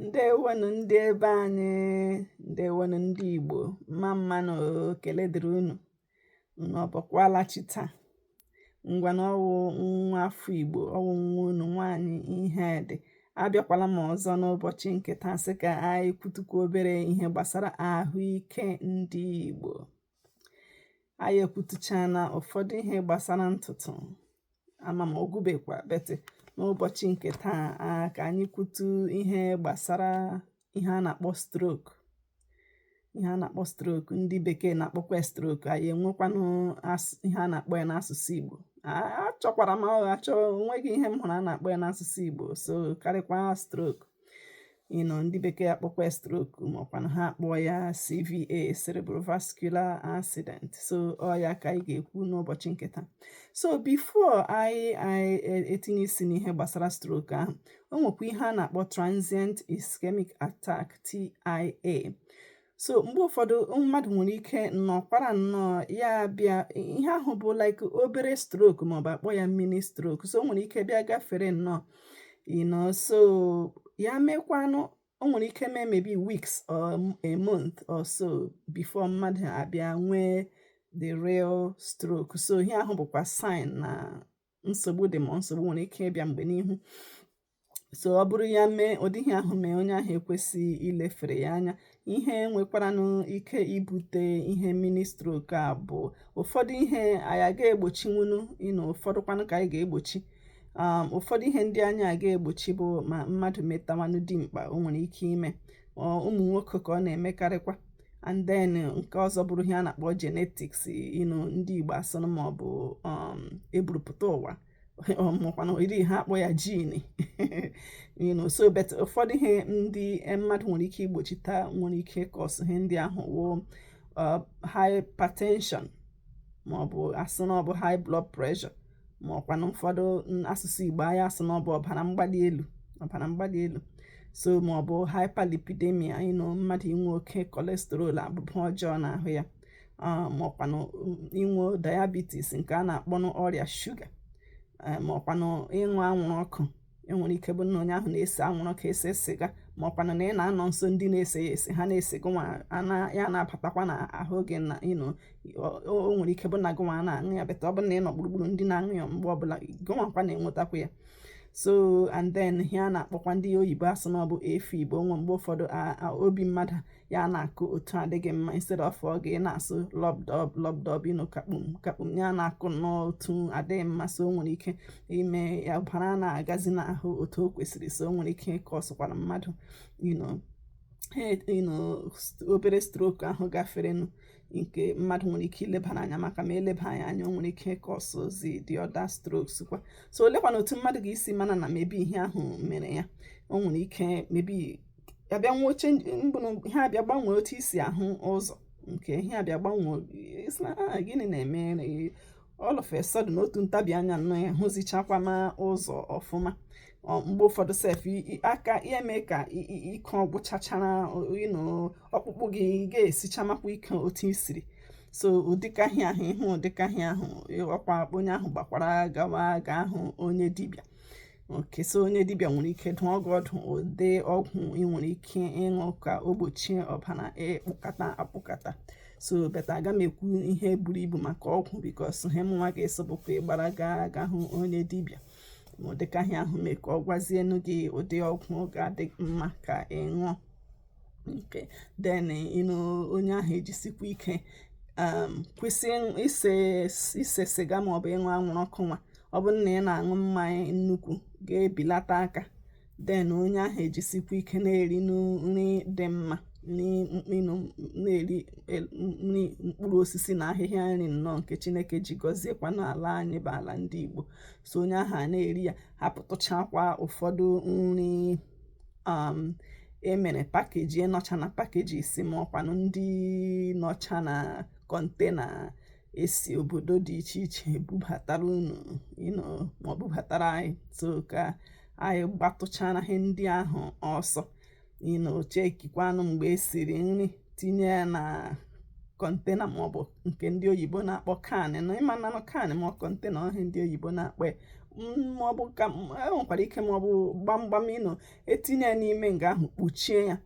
ǹdewonù ndị ebe anyị ǹdewonù ndị ìgbò mma mma nà èkèle dị̀rị unù unù ọ bọkwala chi taa ngwànụ ọ wụ nwa afọ ìgbò ọ wụ nwa unù nwaanyị Ihedị abịakwala m ọzọ n'ụbọchị ǹkè taa sị kà anyị kwutukwa obere ihe gbàsara àhụike ndị ìgbò anyị ekwutuchana ụfọdụ ihe gbasara ntụtụ ama m ọ gwụbekwa but n'ụbọchị nke taa a ka anyị kwutu ihe gbasara ihe a na-akpọ stroke ihe a na-akpọ stroke ndị bekee na-akpọkwa stroke anyị enwekwanụ ihe a na-akpọ ya n'asụsụ Igbo achọkwara m achọ onweghị ihe m hụrụ a na-akpọ ya n'asụsụ Igbo so karịkwa stroke you know ndị bekee akpọkwa ya stroke maọkwanụ ha akpọ ya CVA cerebrovascular accident so ọ ya ka anyị ga-ekwu n'ụbọchị nke taa so before anyị anyị e, etinye isi n'ihe gbasara stroke ahụ o nwekwa ihe a na-akpọ transient ischemic attack TIA so mgbe ụfọdụ mmadụ nwere ike nọkwara nnọọ ya bịa ihe ahụ bụ like obere stroke maọbụ akpọ ya mini stroke so o nwere ike bịa gafere nnọọ you know so ya mekwanụ o nwere ike mee maybe weeks or a month or so before mmadụ abịa nwee the real stroke so ihe ahụ bụkwa sign na nsogbu dị ma nsogbu nwere ike ịbịa mgbe n'ihu so ọ bụrụ ya mee ụdị ihe ahụ mee onye ahụ ekwesịghị ilefere ya anya ihe nwekwaranụ ike ibute ihe mini stroke a bụ ụfọdụ ihe anyị aga egbochinwunu you know ụfọdụkwanụ ka anyị ga-egbochi um, ụfọdụ ihe ndị anyị aga egbochi bụ ma mmadụ metawanụ dimkpa o nwere ike ime ụmụ nwoke ka ọ na-emekarịkwa and then nke ọzọ bụrụ ihe a na-akpọ genetics you know ndị Igbo asụrụ ma ọ bụ um, eburupụta ụwa ma ọkwanụ um, iri ha akpọ ya gene you know so but ụfọdụ ihe ndị eh, mmadụ nwere ike igbochita nwere ike cause ihe ndị ahụ wụ uh, hypertension ma ọ bụ asị na ọ bụ high blood pressure ma ọkwanụ ụfọdụ asụsụ Igbo anyị asụ na ọ bụ ọbara mgbali elu ọbara mgbali elu so ma ọ bụ hyperlipidemia you know mmadụ inwe oke cholesterol abụba ọjọọ n'ahụ ya ma ọkwanụ um, inwe diabetes nke a na-akpọnụ ọrịa shuga ma ọkwanụ ịṅụ anwụrụ ọkụ enwere ike bụ na onye ahụ na-ese anwụrụ ọkụ ese sịga ma ọkwanụ na ị na-anọ nso ndị na-ese ya ese ha na-ese gụnwa ya na-abatakwa na ahụ gị na you know o nwere ike bụ na gụnwa na-aṅụ ya but ọ bụ na ị nọ gburugburu ndị na-aṅụ ya mgbe ọbụla gụnwakwa na-enwetakwa ya so and then ihe a na-akpọkwa ndị oyibo asụ na ọ bụ AFib o nwe mgbe ụfọdụ obi mmadụ ya na-akụ otu adịghị mma instead of ọ ga na-asụ lọbdọb lọbdọb you know kakpum kakpum ya na-akụ n'otu adịghị mma so o nwere ike ime ya ọbara na-agazi n'ahụ otu o kwesịrị so o nwere ike causekwara mmadụ you know obere stroke ahụ gaferenụ nke mmadụ nwere ike ilebara anya maka ma eleba ya anya o nwere ike causezi the other strokes kwa so olekwana otu mmadụ ga-esi mara na maybe ihe ahụ mere ya o nwere ike maybe abịa nwee oche mbụrụ ihe abịa gbanwee otu i si ahụ ụzọ nke ihe abịa gbanwee ị sị na ah, gịnị na-eme all of a sudden n'otu ntabi anya nọ ya hụzichakwa ma ụzọ ọfụma mgbe ụfọdụ sef aka ya mee ka ike ọgwụchachara ọkpụkpụ gị ga-esichamakwa ike otu i siri so ụdịka ihe ahụ ị hụ ụdịka ihe ahụ ọkwa onye ahụ gbakwara gawa ga hụ onye dibịa okay so onye dibịa nwere ike dụọ gị ọdụ ụdị ọgwụ ị nwere ike ịṅụ ka o gbochie ọbara ịkpụkata akpụkata so but aga m ekwu ihe buru ibu maka ọgwụ because ihe mụnwa ga-asị bụkwa ị gbara gaa ga hụ onye dibịa ma ụdịka ihe ahụ mee ka ọ gwazienu gị ụdị ọgwụ ga-adị mma ka ị ṅụọ nke then you know onye ahụ ejisikwa ike um, kwụsị ise ise siga ma ọ bụ ịṅụ anwụrụ ọkụ nwa ọ bụrụ na ị na-aṅụ mmanya nnukwu ga-ebilata aka then onye ahụ ejisikwa ike na-eri nri dị mma na-eri e, nri mkpụrụ osisi na ahịhịa nri nnọọ nke chineke ji gọziekwa n'ala anyị bụ ala ndị igbo so onye ahụ a na-eri ya hapụtụchakwa ụfọdụ nri um, emere pakeji nọcha na pakejis ma ọkwanụ ndị nọcha na kọntena esi obodo dị iche iche bubatara unu you know ma ọ bubatara anyị so ka anyị gbatụchara ihe ndị ahụ ọsọ you know chekikwanụ mgbe esiri nri tinye ya na kọntena maọbụ nke ndị oyibo na-akpọ can you know ịma nanụ can ma kọntena ọ ihe a ndị oyibo na-akpọ ya maọbụ ka enwekwara ike maọbụ gbamgbam you know etinye ya n'ime nga ahụ kpuchie ya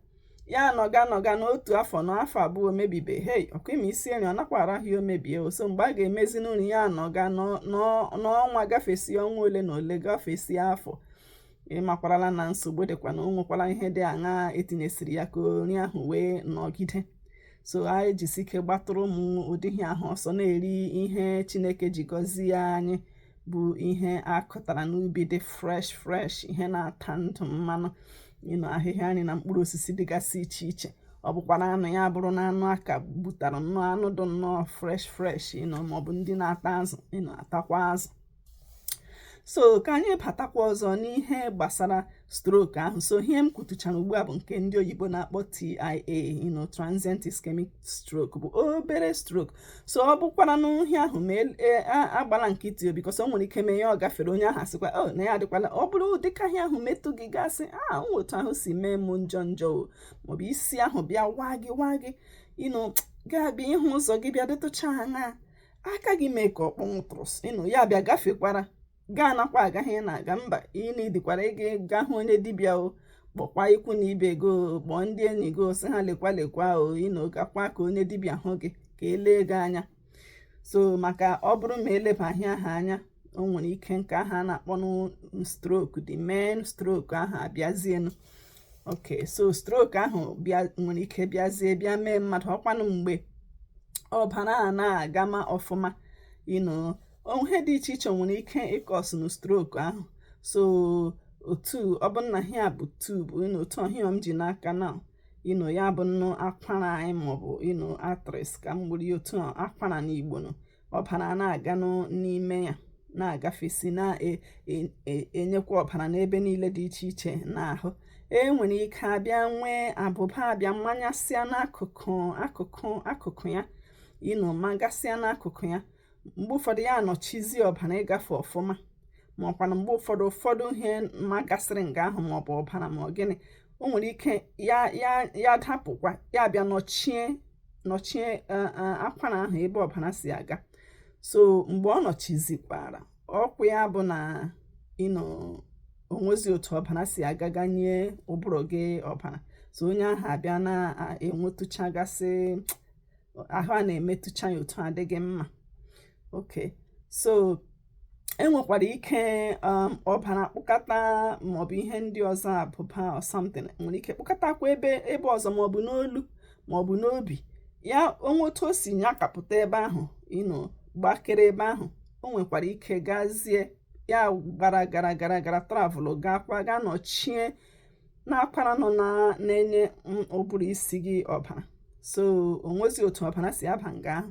ya nọga nọga n'otu afọ na afọ abụọ o mebibeghị ọkwa ị ma e sie nri ọ nakwa arahụ ya o mebie so mgbe a ga-emezi nri ya nọga n'ọnwa gafesi ọnwa ole na ole gafesi afọ ị makwarala na nsogbu dịkwa na o nwekwara ihe dị aṅaa etinyesiri ya ka nri ahụ wee nọgide so anyị jisi ike gbatụrụ ụmụ ụdị ihe ahụ ọsọ na-eri ihe chineke ji gọzie anyị bụ ihe akụtara n'ubi dị fresh fresh ihe na-ata ndụ mmanụ you know ahịhịa nri na mkpụrụ osisi dịgasị iche iche ọ bụkwara anụ ya bụrụ na anụ a ka gbutara nnọọ anụ dị nnọọ fresh fresh you know maọbụ ndị na-ata azụ you know atakwa azụ so ka anyị batakwa ọzọ n'ihe gbasara stroke ahụ so ihe m kwutuchara ugbu a bụ nke ndị oyibo na-akpọ TIA you know transient ischemic stroke bụ obere stroke so ọ bụkwara n'uhi ahụ ma e, e, agbala nkịtị because o nwere ike mee ya ọ gafere onye ahụ asịkwa o oh, na ya adịkwala ọ bụrụ dịka ihe ahụ metụ gị gasị a ah, otu ahụ si mee m njọ njọ maọbụ isi ahụ bịa waa gị waa gị you know ga-abịa ịhụ ụzọ gị bịa dịtụcha ha aka gị mee ka ọ kpọnwụtụrụ you know ya bịa gafekwara gaa nakwa agaghị ị na-aga mba ị needikwara ịga ga hụ onye dibịa o kpọkwa ikwu na ibe gị o kpọọ ndị enyi gị o sị ha lekwa lekwa o you know gakwa ka onye dibịa hụ gị ka e lee gị anya so maka ọ bụrụ ma elebaghị aha anya o nwere ike nke aha a na-akpọ stroke the main stroke aha abịazienụ ok so stroke ahụ bịa nwere ike bịazie bịa mee mmadụ ọkwanụ mgbe ọbara a na-agama ọfụma you know ihe dị iche iche nwere ike ịcausenụ stroke ahụ so otu ọ bụ na ya bụ tube you know otu ihe a m ji n'aka na you know ya bụnụ akwara anyị maọbụ you know arteries ka m gburu otu akwara n'Igbo na ọbara na-aga n'ime ya na-agafesi na-enyekwa e, e, ọbara n'ebe niile dị iche iche n'ahụ e nwere ike abịa nwee abụba abịa manyasịa n'akụkụ akụkụ akụkụ ya you know magasịa n'akụkụ ya mgbe ụfọdụ ya anọchizi ọbara ịgafe ọfụma ma ọkwana mgbe ụfọdụ ụfọdụ ihe magasịrị nga ahụ ma ọ bụ ọbara ma ọ gịnị o nwere ike ya ya ya dapụkwa ya bịa nọchie nọchie e, e, akwara ahụ ebe ọbara si aga so mgbe ọ nọchizikwara ọkwa ya bụ na you know o nwezi otu ọbara si aga ga nye ụbụrụ gị ọbara so onye ahụ abịa na-enwetụchagasị ahụ a na-emetụcha ya otu adịghị mma ok so enwekwara ike um, ọbara kpụkọta maọbụ ihe ndị ọzọ abụba or something nwere ike kpụkọtakwa ebe ebe ọzọ maọbụ n'olu maọbụ n'obi ya o nwee otu o si nyakapụta ebe ahụ you know gbakere ebe ahụ o nwekwara ike gazie ya gara gara gara gara travel gaakwa gaa nọchie n'akwara nọ na-enye ụbụrụ isi gị ọbara so o nwezi otu ọbara si aba nga ahụ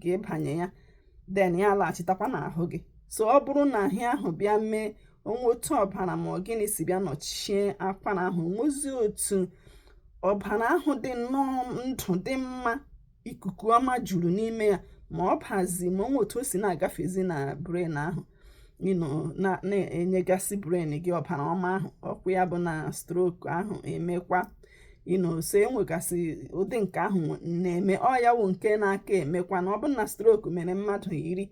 ga ịbanye ya then ya alaghachitakwa n'ahụ gị so ọ bụrụ na ihe ahụ bịa mee o nwee otu ọbara ma ọ gịnị si bịa nọchie akwara ahụ nwezi otu ọbara ahụ dị nnọọ ndụ dị mma ikuku ọma juru n'ime ya ma ọ bazi ma o nwe otu o si na-agafezi na brain ahụ na-enyegasị brain gị ọbara ọma ahụ ọkwa ya bụ na stroke ahụ emekwa you know so enwegasị ụdị nke ahụ na-eme ọ ya wụ nke na-aka emekwa na ọ bụrụ na stroke mere mmadụ iri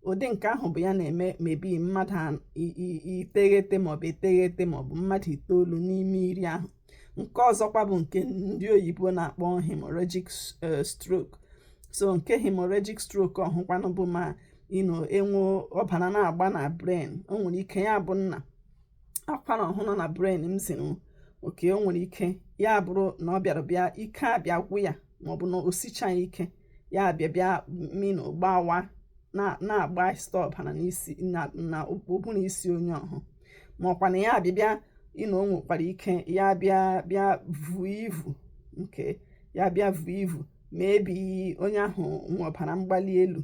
ụdị nke ahụ bụ ya na-eme maybe mmadụ iteghete maọbụ eteghete maọbụ mmadụ itoolu n'ime iri ahụ nke ọzọkwa bụ nke ndị oyibo na-akpọ hemorrhagic eh, stroke so nke hemorrhagic stroke ọhụkwanụ bụ ma you know e nwee ọbara na-agba na brain o nwere ike ya bụrụ na akwara ọhụ nọ na brain m ziri okay o nwere ike ya bụrụ na ọ bịara bịa ike abịa gwụ ya maọbụ na o sichaghị ike ya bịa bịa you know gbawa na-agba site ọbara n'isi na ụbụrụ isi onye ọhụ maọkwanụ ya abịa bịa you know o nwekwara ike ya bịa bịa vuo ivu nke ya bịa vuo ivu maybe onye ahụ nwe ọbara mgbali elu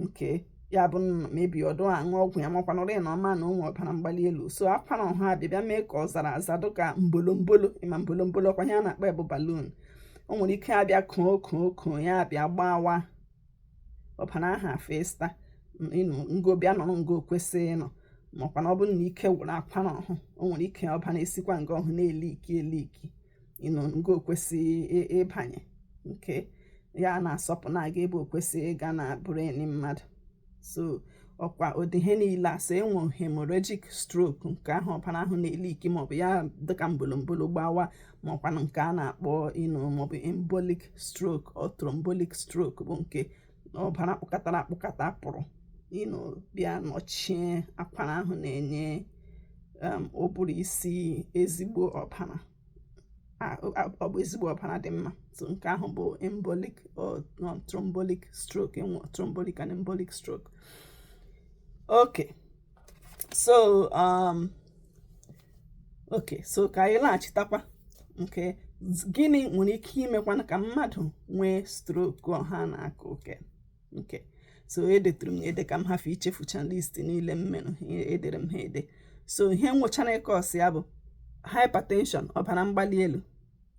nke ya bụ maybe ọ dụ aṅụ ọgwụ ya makwanụrụ ya na ọ ma na o nwe ọbara mgbali elu so akwara ọhụ abịa bịa mee ka ọ zara aza dịka mbolombolo ị ma mbolombolo ọkwa ihe a na-akpọ ya bụ balloon o nwere ike abịa koo koo koo ya abịa gbawa ọbara ahụ efesa nga bịa nọrọ nga o kwesịghị ịnọ makwa na ọ bụrụ na ike gwụrụ akwara ọhụ o nwere ike ọbara esikwa nga ọhụ na-eliki eliki you know nga o kwesịghị ịbanye nke ya na-asọpụ na-aga ebe o kwesịghị ịga na brain mmadụ so ọkwa ụdị ihe niile e si enwe hemorrhagic stroke nke ahụ ọbara ahụ na-eliki maọbụ ya dịka mbolombolo gbawa maọkwanụ nke a na-akpọ you know maọbụ embolic stroke or thrombotic stroke bụ nke ọbara kpụkatara akpụkata pụrụ you know bịa nọchie akwara ahụ na-enye um, ụbụrụ isi ezigbo ọbara ọ bụ ezigbo ọbara dị mma so nke ahụ bụ embolic or thrombotic stroke e nwe thrombotic and embolic stroke okay so um okay so ka anyị laghachitakwa nke gịnị nwere ike imekwanụ ka mmadụ nwee stroke ọhụ a na-aka okay okay so edetụrụ m ede ka m hafụ ichefucha list niile m mere edere m ha ede so ihe nwechara ike ịkọsị ya bụ hypertension ọbara mgbali elu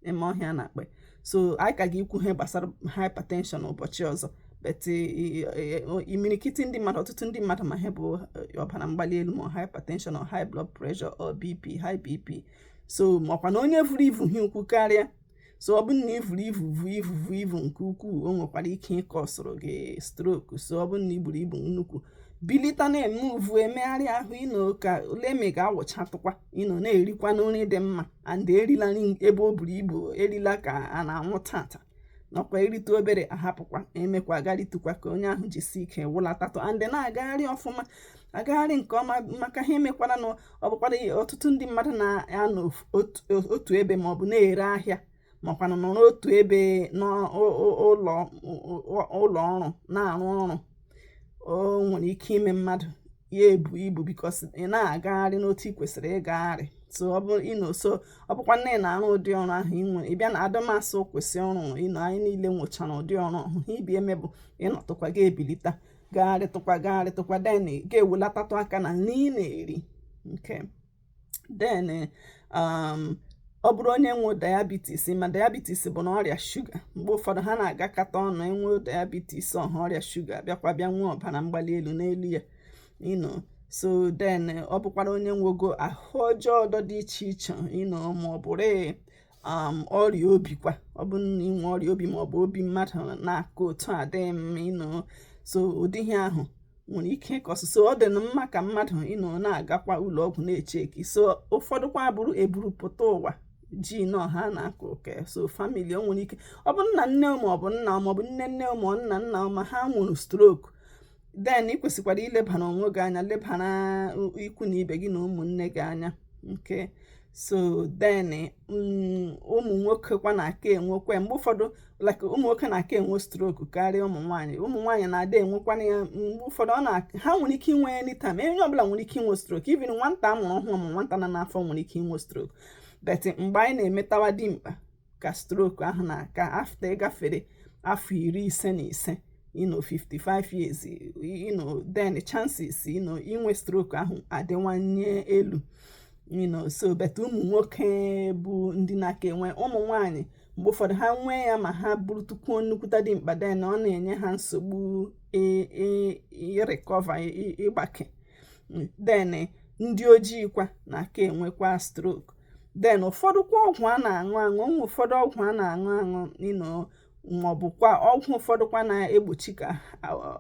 ị ma ọ ihe a na-akpọ ya so anyị ka ga-ekwu ihe gbasara hypertension ụbọchị ọzọ but imirikiti ndị mmadụ ọtụtụ ndị mmadụ ma ihe bụ eh, ọbara mgbali elu ma hypertension or high blood pressure or bp high bp so makwa na onye vuru ivu hi ukwu karịa so ọ bụrụ na i vuru ivu vu ivu vu ivu nke ukwuu o nwekwara ike ịkọsụrụ gị stroke so ọ bụrụ na i buru ibu nnukwu bilite na-emuvu emegharị ahụ you know ka e lee ma ị ga-awụchatụkwa you know na-erikwa nri dị mma and erila nri ebe o buru ibu erila ka a na-anwụ tata nakwa erite obere ahapụkwa emekwa agaritukwa ka onye ahụ jisi ike wụlatatụ and na-agagharị ọfụma agagharị nke ọma maka ha emekwara na ọ bụkwara ihe ọtụtụ ndị mmadụ na-anọ otu ebe ma ọ bụ na-ere ahịa makwanụ nọrọ otu ebe n'ụlọ ụlọ ọrụ na-arụ ọrụ o nwere ike ime mmadụ ya ebu ibu because ị na-agagharị n'otu ị kwesịrị ịgagharị so ọ bụrụ you know so ọ bụkwanụ na ị na-arụ ụdị ọrụ ahụ ị nwere ịbịa na ada m asị kwụsị ọrụ you know anyị niile nwechara ụdị ọrụ ọhụ ibi eme bụ ịnọtụkwa gị ebilita gagharịtụkwa gagharịtụkwa then ga-ewelatatụ aka na nri ị na-eri okay then um, ọ bụrụ onye nwe diabetes ị ma diabetes bụ na ọrịa shuga mgbe ụfọdụ ha na-agakọta ọnụ e nwee diabetes ọhụ ọrịa shuga bịakwa bịa nwee ọbara mgbali elu n'elu ya you know so then ọ bụkwara onye nwogo ahụ ọjọọ ọdọ dị iche iche you know ma ọ bụrụ um, ọrịa obi kwa ọ bụ na inwe ọrịa obi ma ọ bụ obi mmadụ na-akụ otu adịghị mma you know so ụdị ihe ahụ nwere ike ịcause so ọ dịnụ mma ka mmadụ you know na-agakwa ụlọ ọgwụ na-echeki so ụfọdụkwa bụrụ eburu pụta ụwa gene ọhụ a na-akọ okay so family o nwere ike ọ bụ nna nne ma ọ bụ nna ma ọ bụ nne nne ma ọ nna nna ma ha nwere stroke then ị kwesịkwara ilebara onwe gị anya lebara ikwu na ibe gị na ụmụnne gị anya okay so then mm, ụmụ nwoke kwa na-aka enwekwa mgbe ụfọdụ like ụmụ nwoke na-aka enwe stroke karịa ụmụ nwaanyị ụmụ nwaanyị na-ada enwekwana ya mgbe ụfọdụ ọ na ha nwere ike inwe ya anytime onye ọbụla nwere ike inwe stroke even nwata a mụrụ ọhụrụ ma nwata nọ n'afọ nwere ike inwe stroke but mgbe anyị na-emetawa dimkpa ka stroke ahụ na-aka after ị gafere afọ iri ise na ise you know 55 years you know then chances you know inwe stroke ahụ adịwanye elu you know so but ụmụ nwoke bụ ndị na-aka enwe ụmụ nwanyị mgbe ụfọdụ ha nwee ya ma ha bụrụtụkwuo nnukwuta dimkpa then ọ na-enye ha nsogbu ịrecover ịgbake then ndị ojii kwa na-aka enwekwa stroke then ụfọdụkwa ọgwụ a na-aṅụ aṅụ o nwe ụfọdụ ọgwụ a na-aṅụ aṅụ you know maọbụkwa ọgwụ ụfọdụkwa na-egbochi ka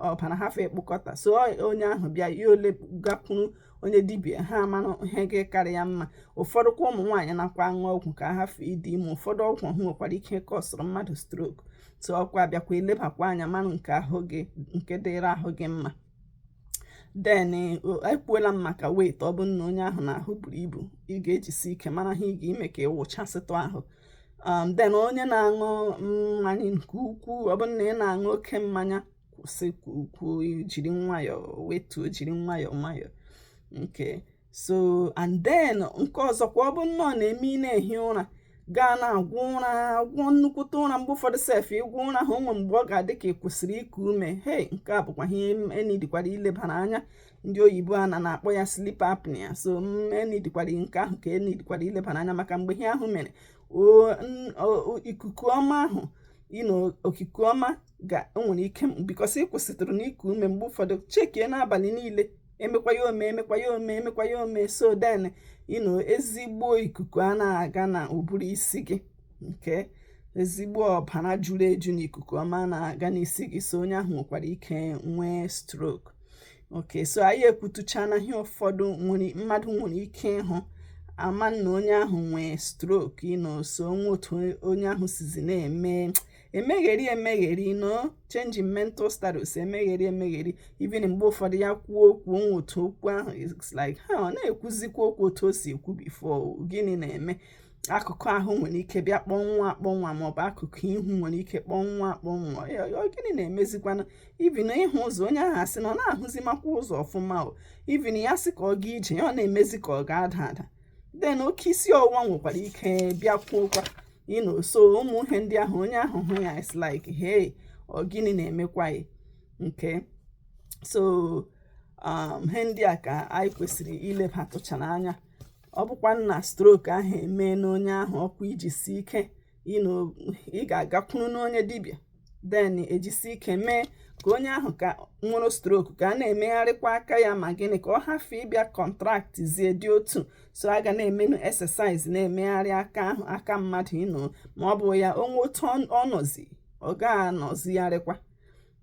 ọbara hafe ịkpụkọta so onye ahụ bịa ya ole gakwuru onye dibia ha mara ihe ga-akarị ya mma ụfọdụkwa ụmụ nwaanyị nakwa aṅụ ọgwụ ka ha hafe ịdị ime ụfọdụ ọgwụ ọhụ nwekwara ike kọsụrụ mmadụ stroke so ọkwa bịakwa elebakwa anya mara nke ahụ gị nke dịrị ahụ gị mma then ekwuola m maka weight ọ bụrụ na onye ahụ na-ahụ buru ibu ị ga-ejisi ike mara ihe ị ga-eme ka ịwụchasịtụ ahụ um, then onye na-aṅụ mmanya nke ukwuu ọ bụrụ na ị na-aṅụ oke mmanya kwụsịkwuo jiri nwayọọ wetuo jiri nwayọọ nwayọọ okay so and then nke ọzọ kwa ọ bụ na ọ na-eme ị na-ehi ụra gaa na-agwọ ụra agwọ nnukwute ụra mgbe ụfọdụ sef ịgwọ ụra ahụ o nwe mgbe ọ ga-adị ka ị kwụsịrị iku ume hei nke a bụkwa ihe e needikwara ilebara anya ndị oyibo a na na-akpọ ya sleep apnea so e needikwara nke ahụ ka e needikwara ilebara anya maka mgbe ihe ahụ mere ikuku ọma ahụ you know okike ọma ga enwere ike because ị kwụsịtụrụ n'iku ume mgbe ụfọdụ chekie n'abalị niile emekwa ya ome emekwa ya ome emekwa ya ome so then you know ezigbo ikuku a na-aga na ụbụrụ isi gị nke ezigbo ọbara juru eju na ikuku ọma na-aga n'isi gị so onye ahụ nwekwara ike nwee stroke okay so anyị ekwutuchana ihe ụfọdụ mmadụ nwere ike ịhụ ama na onye ahụ nwee stroke you know so o nwe otu onye ahụ sizi na-eme emegheri emegheri you know change in mental status emegheri emegheri even mgbe ụfọdụ ya kwuo okwu o nwe otu okwu ahụ it's like ha ọ na-ekwuzikwa okwu otu o si ekwu before gịnị na-eme akụkụ ahụ nwere ike bịa kpọnwụọ akpọnwụ maọbụ akụkụ ihu nwere ike kpọnwụọ akpọnwụ gịnị na-emezikwanụ even ịhụ ụzọ onye ahụ asị na ọ na-ahụzimakwa ụzọ ọfụma o even ya sị ka ọ gaa ije ya ọ na-emezi ka ọ ga-ada ada then oke isi ọwụwa nwekwara ike bịakwuokwa you know so ụmụ ihe ndị ahụ onye ahụ hụ ya is like hey ọ gịnị na-emekwa ya okay so um, ihe ndị a ka anyị kwesịrị ilebatụchara anya ọ bụkwa na stroke ahụ emeena onye ahụ ọkwa ijisi ike you know ị ga-agakwuru n'onye dibịa then ejisi ike mee ka onye ahụ ka nwere stroke ka a na-emegharịkwa aka ya ma gịnị ka ọ hafụ ịbịa contractizie dị otu so a ga na-emenụ exercise na-emegharị aka ahụ aka mmadụ you know ma ọ bụ ya o nwe otu ọ nọzi ọ ga-anọzigharịkwa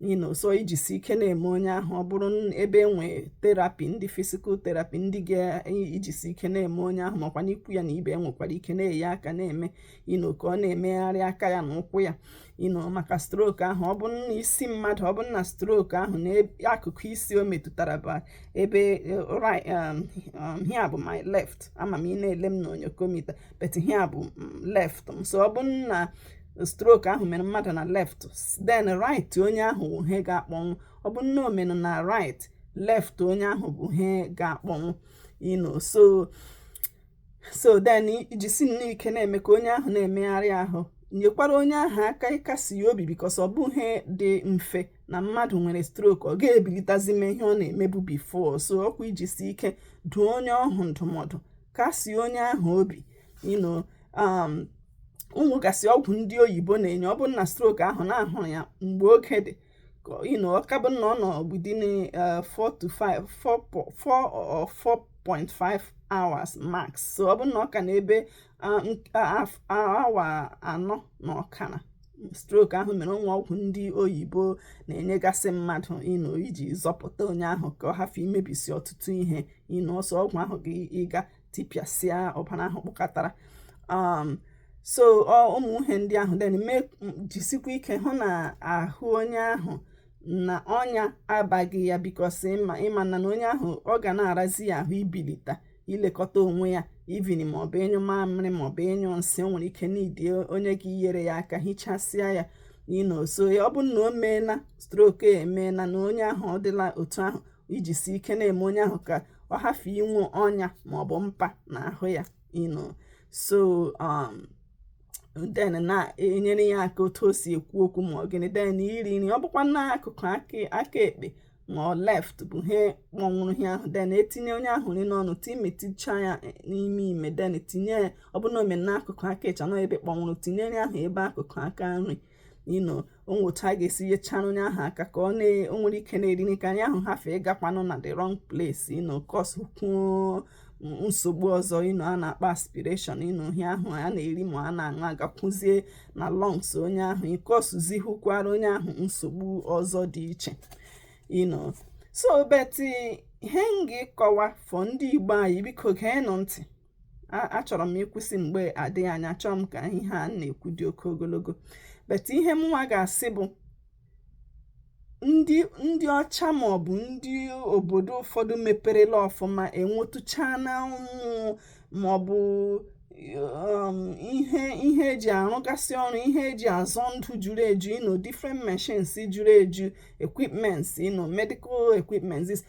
you know so ijisi ike na-eme onye ahụ ọ bụrụ ebe e nwe therapy ndị physical therapy ndị ga-ejisi ike na-eme onye ahụ makwanụ ikwu ya na ibe enwekwara ike na-enye aka na-eme you know ka ọ na-emegharị aka ya na ụkwụ ya you know maka stroke ahụ ọ bụrụ na isi mmadụ ọ bụrụ na stroke ahụ na akụkụ isi o metụtara bụ ebe eh, um, um, here bụ my left ama m ị na-ele m na onyokomita but here bụ mm, left m so ọ bụrụ na stroke ahụ mere mmadụ na left then right onye ahụ bụ he ga-akpọnwụ ọ bụrụ na o mere na right left onye ahụ bụ he ga-akpọnwụ you know so so then ijisi nnọọ ike na-eme ka onye ahụ na-emegharị ahụ nyekwara onye ahụ aka ịkasi ya obi because ọ bụghị ihe dị mfe na mmadụ nwere stroke ọ ga-ebilitazi mee ihe ọ na-emebu before so ọkwa ijisi ike duo onye ahụ ndụmọdụ kasie onye ahụ obi you know um, o nwegasị ọgwụ ndị oyibo na-enye ọ bụrụ na stroke ahụ na a hụrụ ya mgbe oge dị you know ọ ka bụ na ọ nọ within uh, four to five four four or four point five hours max so ọ bụ na ọ ka na ebe uh, uh, awa anọ na ọkara stroke ahụ mere o nwe ọgwụ ndị oyibo na-enyegasị mmadụ you know iji zọpụta onye ahụ ka ọ hafụ imebisi ọtụtụ ihe you know ọsọ ọgwụ ahụ ga-ịga tipịasịa ọbara ahụ kpụkọtara um, so ụmụ ihe ndị ahụ then jisikwa ike hụ na ahụ onye ahụ na ọnya abaghị ya because ịma na na onye ahụ ọ ga na-arazi ya ahụ ibilita ilekọta onwe ya even maọbụ ịnyụ mamịrị maọbụ ịnyụ nsị o nwere ike need onye ga-inyere ya aka hichasịa ya you know so ọ bụ na o meela stroke emeela na onye ahụ ọ dịla otu ahụ ijisi ike na-eme onye ahụ ka ọ hafụ inwe ọnya maọbụ mpa na ahụ ya you know so um, then na-enyere ya aka otu o si ekwu okwu ma ọ gịnị then iri nri ọ bụkwa n'akụkụ aka ekpe ma ọ left bụ ihe kpọnwụrụ ihe ahụ then etinye onye ahụ nri n'ọnụ timeticha ya e, n'ime ime then tinye ya ọ bụrụ na o mee n'akụkụ aka ịcha nọ ebe kpọnwụrụ tinye nri ahụ ebe akụkụ aka nri you know o nwe otu a ga-esi nyechara onye ahụ aka ka ọ o nwere ike na-eri nri ka ihe ahụ hafụ ịgakwanụ na the wrong place you know kọskwuo nsogbu ọzọ you know a na-akpọ aspiration you know ihe ahụ a na-eri ma a na-aṅụ agakwuzie na lungs onye ahụ ịkọsụzi hụkwara onye ahụ nsogbu ọzọ dị iche you know so but ihe m ga-akọwa for ndị igbo anyị biko geenụ ntị achọrọ m ịkwụsị mgbe adịghị anya achọrọ m ka ihe a na-ekwu dị oke ogologo but ihe mụnwa ga-asị bụ ndị ndị ọcha maọbụ ndị obodo ụfọdụ meperela ọfụma enwetụchaana ụmụ maọbụ um, ihe ihe eji arụgasị ọrụ ihe eji azọ ndụ juru eju you know different machines juru eju equipments you know medical equipments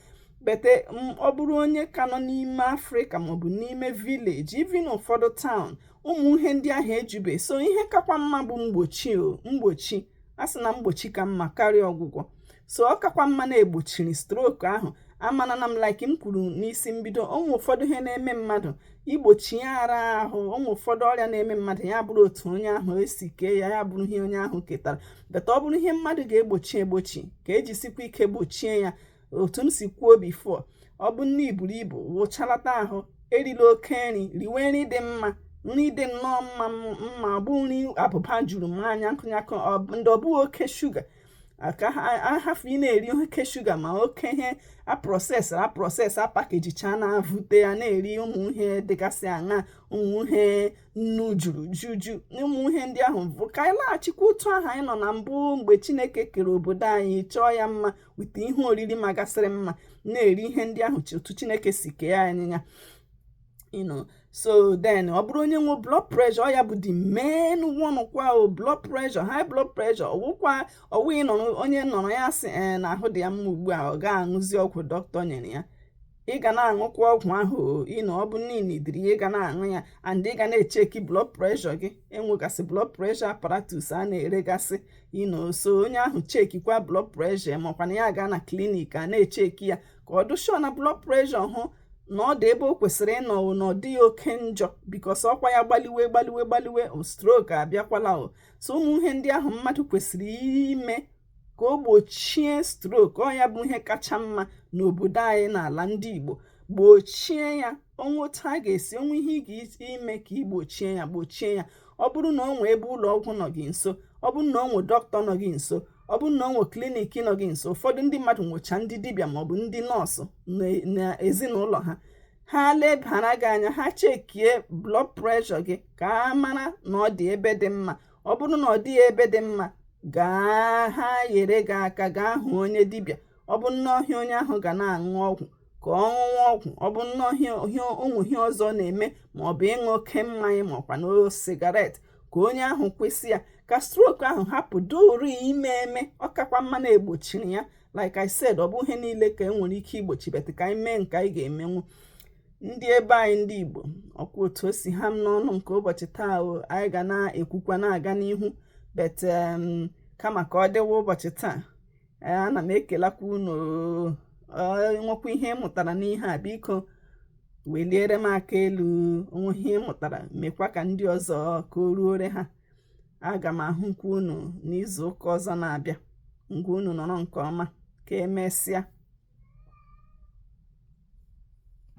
but um, ọ bụrụ onye ka nọ n'ime afrịka maọbụ n'ime village even ụfọdụ town ụmụ ihe ndị ahụ ejube so ihe kakwa mma bụ mgbochi mgbochi a sị na mgbochi ka mma karịa ọgwụgwọ so ọ kakwa mma na e gbochiri stroke ahụ amana na m like m kwuru n'isi mbido o nwe ụfọdụ ihe na-eme mmadụ igbochi ya ara ahụ o nwe ụfọdụ ọrịa na-eme mmadụ ya bụrụ otu onye ahụ esi kee ya ya bụrụ ihe onye ahụ ketara but ọ bụrụ ihe mmadụ ga-egbochi egbochi ka ejisikwa ike gbochie ya otu m si kwuo bifo ọ bụ na i buru ibu wụchalata ahụ erila oke nri riwe nri dị mma nri dị nnọọ mma ọ bụghị nri abụba juru mmanya nkụnyakụ ndị ọ bụghị oke shuga ka a hafụ ị na-eri oke shuga ma oke ihe a prọsesịrị aprọsesị a pakejichaa na-avute ya na-eri ụmụ ihe dịgasị aṅa ụmụ ihe nnu juru juju ụmụ ihe ndị ahụ bụ ka anyị laghachikwa otu ahụ anyị nọ na mbụ mgbe chineke kere obodo anyị chọọ ya mma weta ihe oriri magasịrị mma na-eri ihe ndị ahụ otu chineke si kee anyị ya you know so then ọ bụrụ onye nwe blood pressure ọ ya bụ the main one kwa o blood pressure high blood pressure ọ wụkwa ọ wụ ị nọrọ onye nọrọ ya sị eh, na ahụ dị ya mma ugbu a ọ gaghị aṅụzi ọgwụ dọkịta nyere ya ị ga na-aṅụkwa ọgwụ ahụ you know ọ bụ na i nidiri ya ị ga na-aṅụ ya and ị ga na-echeki blood pressure gị e nwegasị blood pressure apparatus a na-eregasị you know so onye ahụ chekikwa blood pressure ma ọ kwanụ ya gaa na klinik a na-echeki ya ka ọ dị sure na blood pressure ahụ na ọ dị ebe o kwesịrị ịnọ na ọ dịghị oke njọ bikos ọkwa ya gbaliwe gbaliwe gbaliwe o strok abịakwala o so ụmụ ihe ndị ahụ mmadụ kwesịrị ime ka o gbochie strok ọ ya bụ ihe kacha mma n'obodo anyị n'ala ndị Igbo gbochie ya o nwe otu a ga-esi o nwe ihe ị ga-ime ka i gbochie ya gbochie ya ọ bụrụ na o nwee ebe ụlọ ọgwụ nọ gị nso ọ bụrụ na o nwee dọkịta nọ gị nso ọ bụrụ na o nwee klinik nọ gị nso ụfọdụ ndị mmadụ nwecha ndị dibịa maọbụ ndị nọọsụ na ezinụlọ ha ha lebara gị anya ha chekie blood pressure gị ka a mara na ọ dị ebe dị mma ọ bụrụ na ọ dịghị ebe dị mma gaa ha yere gị aka gaa hụ onye dibịa ọ bụrụ na ọ wụ ihe onye ahụ ga na-aṅụ ọgwụ ka ọ ṅụwa ọgwụ ọ bụrụ na o nwe ihe ọzọ na-eme ma ọ bụ ịṅụ oke mmanya ma ọkwa ịṅụ sigaret ka onye ahụ kwụsị ya ka strok ahụ hapụ duru ime eme ọ kakwa mma na e gbochiri ya like I said ọ bụghị ihe niile ka e nwere ike igbochi bet ka anyị mee nke anyị ga-emenwu ndị ebe anyị ndị Igbo ọkwa otu o si ha m n'ọnụ nke ụbọchị taa o anyị ga na-ekwukwa na-aga n'ihu bet kama ka ọ dịwa ụbọchị taa eh, ana m ekelakwa unu o nwekwa ihe ị mụtara n'ihe a biko weliere m aka elu o nwe ihe ị mụtara mekwa ka ndị ọzọ ka o ruore ha aga m ahụkwa unu n'izu ụka ọzọ na-abịa ngwa unu nọrọ nke ọma ka emesịa